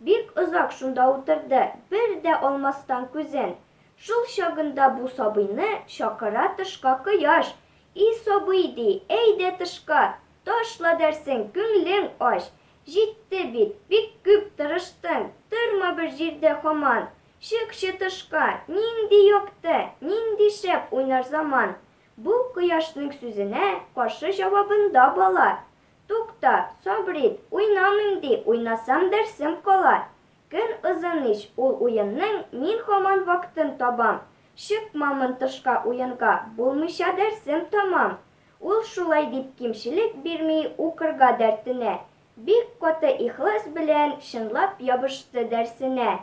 Бик озак шунда утырды, бер дә алмастан күзен. Шул чагында бу сабыйны чакыра тышка Кояш. И сабый, ди, әйдә тышка, ташла дәрсең, күңлең ач. Җитте бит, бик күп тырыштың, торма бер җирдә хаман. Чыкчы тышка, нинди якты, нинди шәп уйнар заман. Бу Кояшның сүзенә каршы җавабында бала, Тукта, Сабрид, уйнамыйм ди, уйнасам дәрсем кала. Көн озын ич ул уенның, мин хаман вактын табам. Чыкмамын тышка уенга, булмыйча дәрсем тамам. Ул шулай дип кимчелек бирми укырга дәртенә. Бик каты ихлас белән чынлап ябышты дәрсенә.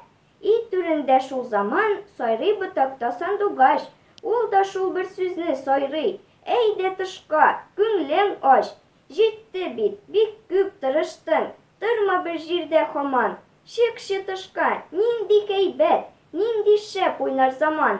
И түрендә шул заман сайрый Ботакта сандугач, Ул да шул бер сүзне сайрый, Әйдә тышка, күңлең ач! Җитте бит, бик күп тырыштың, Торма бер җирдә хаман, Чыкчы тышка, нинди кәйбәт, Нинди шәп уйнар заман!